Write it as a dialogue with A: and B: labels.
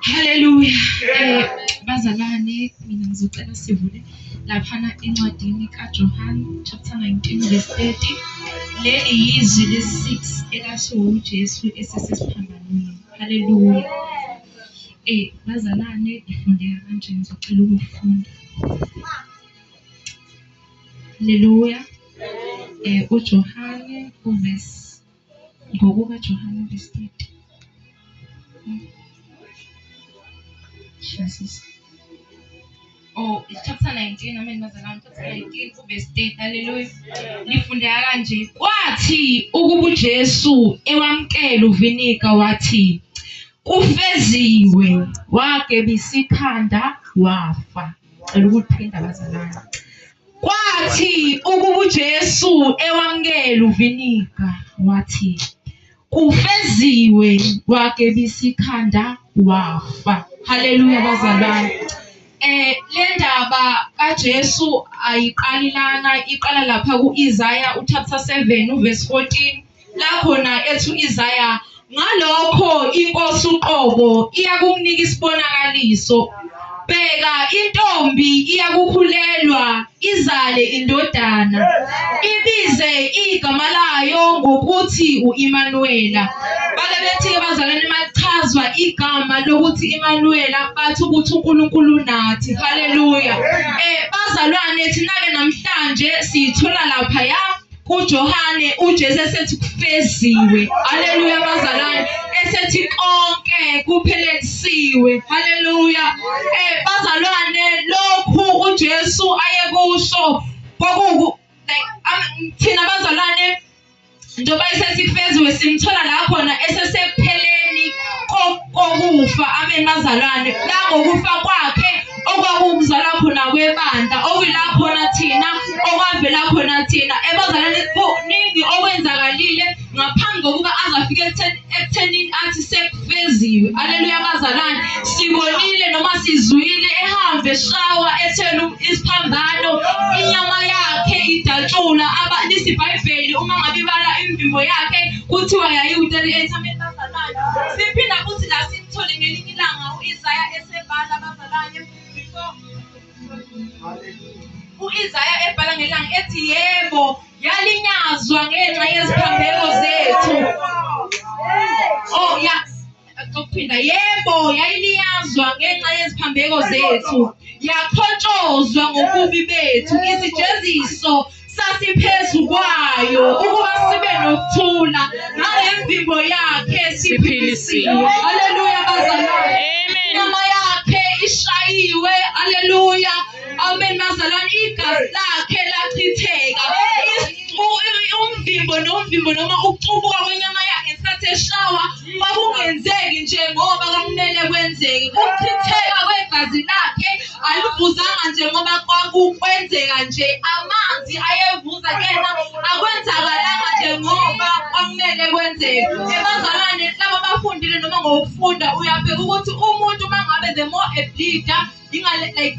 A: Haleluya. Eh, bazalwane mina ngizocela sivule laphana encwadini kaJohn chapter 19 verse 30. Leli yizwi lesi-6 elasho uJesu esesesiphambanweni. Haleluya. Eh, bazalwane ifundeka kanje ngizocela ukufunda. Haleluya. Eh uJohane uvesi ngokuka Johane uvesi 30. Jesus. Oh, chapter 19, amen bazalwane, chapter 19 kuverse 10. Hallelujah. Lifundeka kanje. Kwathi ukuba uJesu ewamkela uvinika wathi kufeziwe wagebisa ikhanda wafa. Cela ukuthinta abazalwane. Kwathi ukuba uJesu ewamukela uviniga wathi kufeziwe wakebisa ikhanda wafa. Haleluya bazalwane. Eh le ndaba kaJesu ayiqali lana iqala lapha kuIsaya uchapter 7 uverse 14 lakhona ethu Isaya ngalokho inkosi uqobo iyakumnika isibonakaliso bheka intombi iyakukhulelwa izale indodana ibize igama layo ngokuthi uImanuwela bake bethi ke bazalwane machazwa igama lokuthi Imanuwela bathi ukuthi uNkulunkulu nathi haleluya eh bazalwane thina ke namhlanje siyithola lapha ya kuJohane uJesu esethi kufeziwe haleluya abazalwane esethi konke kuphelelisiwe haleluya eh bazalwane lokhu uJesu ayekusho kwaku like thina bazalwane njengoba esethi kufeziwe simthola la khona esesepheleni kokufa abe nazalwane langokufa kwakhe okwakukuzala khona kwebandla okuyila khona thina okwavela khona thina ebazalwane kuningi okwenzakalile ngaphambi kokuba azafike ekuthenini athi sekufeziwe aleluya bazalwane sibonile noma sizwile ehambe shawa ethela isiphambano inyama yakhe idatshula lisibhayibheli uma ngabe ibala imvimbo yakhe kuthiwa yayiwuteli ethameni Siphinda futhi la simthole ngelinye ilanga u-Isaya esebhala abazalwane before u-Isaya ebhala ngelanga ethi yebo yalinyazwa ngenxa yeziphambeko zethu. Oh yeah. Ukuphinda yebo yayiliyazwa ngenxa yeziphambeko zethu yakhotshozwa ngobubi bethu isijeziso sasiphezu kwayo ukuba sibe nokuthula ngalemvimbo yakhe siphilisiwe haleluya bazalwane inyama yakhe ishayiwe haleluya amen bazalwane igazi lakhe lachitheka umvimbo nomvimbo noma ukucubuka kwenyama yakhe ngesikhathi eshawa kwakungenzeki nje ngoba kwakumele kwenzeke ukuchitheka kwegazi lakhe alivuzanga nje ngoba kwakukwenzeka nje amanzi ayevuza kena akwenzakalanga nje ngoba kwakumele kwenzeke ebazalwane laba bafundile noma ngokufunda uyabheka ukuthi umuntu uma ngabe the more a bleeder ingale like